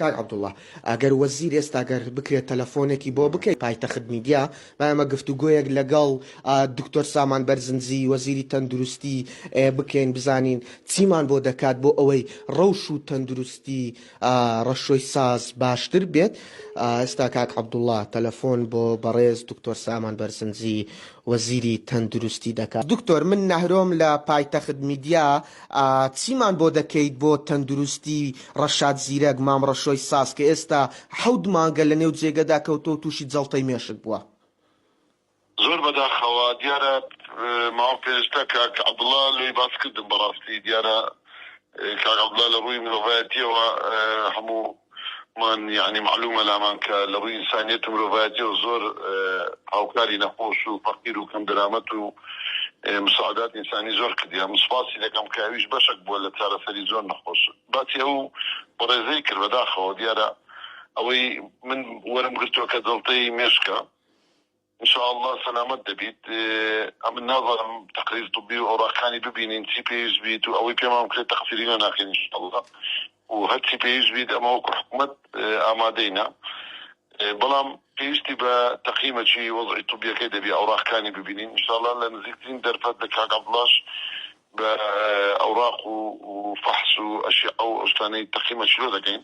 کاک عەبدوڵا ئەگەر وەزیر ئێستا گەر بکرێت تەلەفۆنێکی بۆ بکەیت پایتەخت میدیا با ئێمە گفتوگۆیەک لەگەڵ دکتۆر سامان بەرزنجی وەزیری تەندروستی بکەین بزانین چیمان بۆ دەکات بۆ ئەوەی ڕەوش و تەندروستی ڕەشۆی ساز باشتر بێت ئێستا کاک عەبدوڵا تەلەفۆن بۆ بەڕێز دکتۆر سامان بەرزنجی وەزیری تەندروستی دەکات دکتۆر من نەهرۆم لە پایتەخت میدیا ئا چیمان بۆ دەکەیت بۆ تەندروستی ڕەشاد زیرەک، مام ڕەشۆی ساز، کە ئێستا حەوت مانگە لە نێو جێگەدا کەوتووە و تووشی جەڵتەی مێشک بووە؟ زۆر بەداخەوە دیارە ماوە پێنجتا کاک عەبدوڵا لۆی باس کردم بەڕاستی دیارە کاک عەبدوڵا لە ڕووی مرۆڤایەتیەوە هەموو مان یەعنی مەعلومە لامان کە لە ڕووی ئینسانیەت و مرۆڤایەتیەوە زۆر هاوکاری نەخۆش و فەقیر و کەم دەرامەت و مساعدات ئینسانی زۆر کردیە من سوپاسی دەکەم کە ئەویش بەشەک بووە لە چارەسەری زۆر نەخۆش باسی ئەو بەڕێزەی کرد بەداخەوە دیارە ئەوەی من وەرم گرتووە کە جەڵتەی مێشکە. ان شاء اللە سەلامەت دەبیت. ئەمن نازانم تەقریر طبی و ئەوراقەکانی ببینین چی پێویست بیت و ئەوەی پێمان بکرێت تەقسیری لێ ناکەین ان شاء اللە و هەرچی پێویست بیت ئەمە وەکو حکومەت ئامادەینە بەڵام پێویستی بە تەقیمەکی وەزعی طبیەکەی دەبی ئەوراقەکانی ببینین ان شاء اللە لە نزیکترین دەرفەت لە کاک عەبدوڵاش بە ئەوراق و فەحس و ئەشیعە و ئەو شتانەی تەقیمەکی لۆ دەکەین.